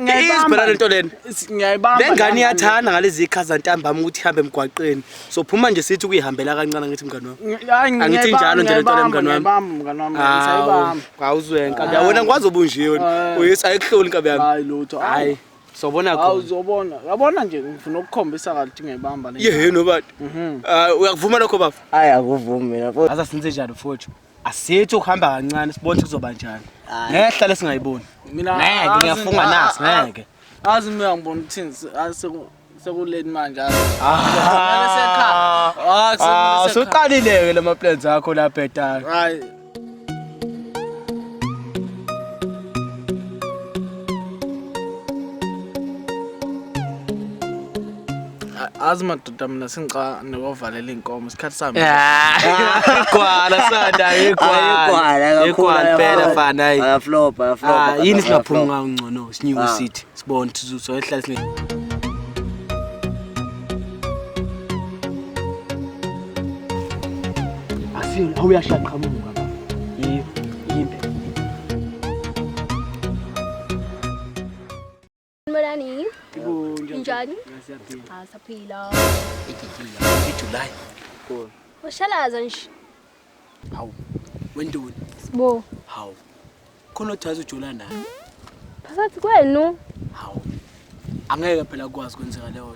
Ngiyayibamba lento lena. Ngiyayibamba. Lengane iyathanda ngalezi ikhaza ntambama ukuthi ihambe emgwaqeni. So phuma nje sithi kuyihambela kancane ngithi mngane wami. Angithi njalo nje lento lena mngane wami. Mngane wami ngiyayibamba. Awuzwe nkabi yabona ngikwazi obunje wena. Eh. Uyisa ekuhloli nkabi yami. Hayi lutho. Hayi. Sobona khona. Hawu uzobona. Yabona nje ngifuna ukukhombisa kathi ngiyibamba le. Yeheno bathi. Mhm. Ah uyakuvuma lokho bafo? Hayi akuvumi mina. Azasinze njani mfowethu? asithi ukuhamba kancane sibone kuzoba njani ngehla lesingayiboni mina ngeke ngiyafunga nasi ngeke azi mina ngibona ukuthini sekuleni manje usuqalile-ke la maplans akho la bhetala azi madoda Kodwa mina sengicane kovalela iy'nkomo isikhathi sami igwala sanda igwala igwala impela fana hayi ayaflopa ayaflopa ah, yini singaphumi ngawo ngcono sinyuke ah. sithi sibone ukuthi soyehlala sine Asin awuyashaqhamuka Sanibonani. Njani? Ah, saphila. July. Cool. Ushalaza nje. Hawu. Wendoni. Sibo. Hawu. Khona othaza ujola naye. Phakathi kwenu. Hawu. Angeke phela kwazi kwenzeka leyo